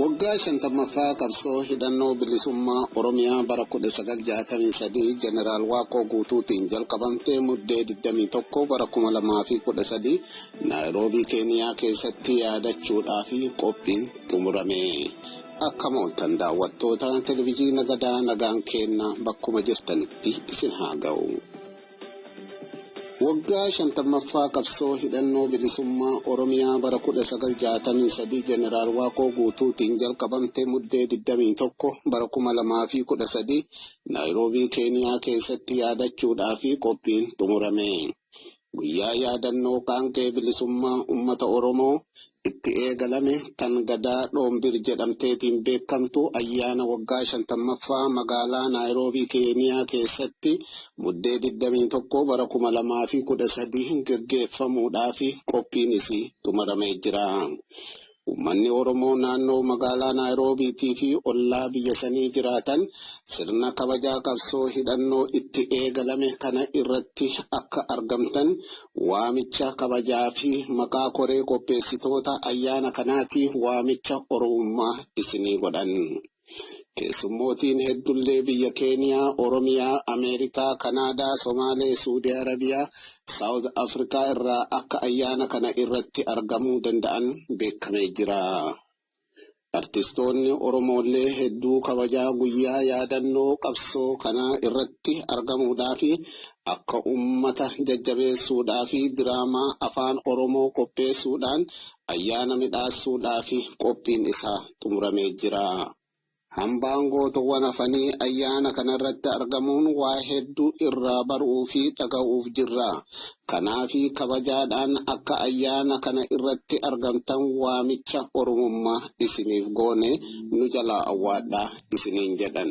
Waggaa 50ffaa qabsoo hidhannoo bilisummaa Oromiyaa bara 1963 Jeneraal Waaqoo Guutuutiin jalqabamte Muddee 21 bara 2013 Naayiroobii Keeniyaa keessatti yaadachuudhaaf qophiin xumurame. Akkam ooltan daawwattoota Televiziina Gadaa nagaan keenna bakkuma jirtanitti isin haa ga'u. Waggaa 50ffaa qabsoo hidhannoo bilisummaa Oromiyaa bara 1963 Jeneraal Waaqoo Guutuutiin jalqabamte Muddee 21 bara 2013 Naayiroobii Keeniyaa keessatti yaadachuudhaa fi qophiin xumurame. Guyyaa yaadannoo qaanqee bilisummaa ummata Oromoo itti eegalame tan Gadaa Dhoombir jedhamteetiin beekamtu ayyaana waggaa 50ffaa magaalaa Naayiroobii Keeniyaa keessatti Muddee 21 bara 2013 gaggeeffamuudhaafi qophiin isii xumaramee jira. Ummanni Oromoo naannoo magaalaa Naayiroobiitii fi ollaa biyya sanii jiraatan sirna kabajaa qabsoo hidhannoo itti eegalame kana irratti akka argamtan Waamicha kabajaa fi maqaa koree qopheessitoota ayyaana kanaati waamicha Oromummaa isinii godhan. Keessummootiin heddullee biyya Keeniyaa, Oromiyaa, Ameerikaa, Kanaadaa, Somaalee, Suudii Arabiyaa, South Africa irraa akka ayyaana kana irratti argamuu danda'an beekkamee jira. Artistoonni Oromoollee hedduu kabajaa guyyaa yaadannoo qabsoo kanaa irratti argamuudhaafi akka ummata jajjabeessuudhaafi diraamaa Afaan Oromoo qopheessuudhaan ayyaana midhaassuudhaafi qophiin isaa xumuramee jira. Hambaan Gootoowwan Hafanii ayyaana kanarratti argamuun waa hedduu irraa baruu fi dhaga'uuf jirra. Kanaaf kabajaadhaan akka ayyaana kana irratti argamtan waamicha Oromummaa isiniif goone nu jalaa awwaadhaa isiniin jedhan.